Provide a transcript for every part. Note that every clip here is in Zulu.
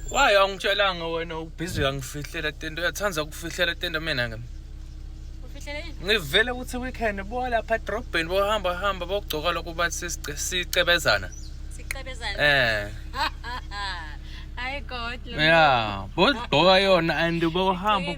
Why angitshelanga wena ubhizi angifihlela tento uyathanda ukufihlela tento mina ke. Ufihlela yini? Ngivele ukuthi weekend bo lapha edrobheni bohamba hamba bogcoka lokho bathi sicebezana. Sicebezana. Eh. Hayi God. Yeah, bogcoka yona and bohamba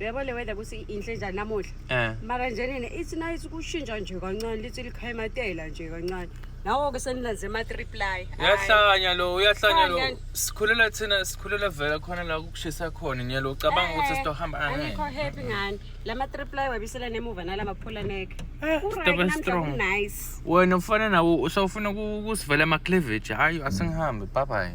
uyabo le weather kuthi inhle njani namuhla um mara njenene ithi nayithi kushintsha nje kancane lithi likhayimatela nje kancane nawo-ke senilenze ama-triply uyahlanya lo uyahlanya lo Khanya. sikhulela thina sikhulela vela khona la kukushisa khona ngiyalo ucabanga ukuthi Eh, sizohamba angikho happy ngani la ma-triply wabisela nemuva nala maphula neke Eh, Ku-right, stop and namhla strong. ku-nice wena ufana nawo usawufuna ku- kusivela amacleavage hayi asingihambe babayi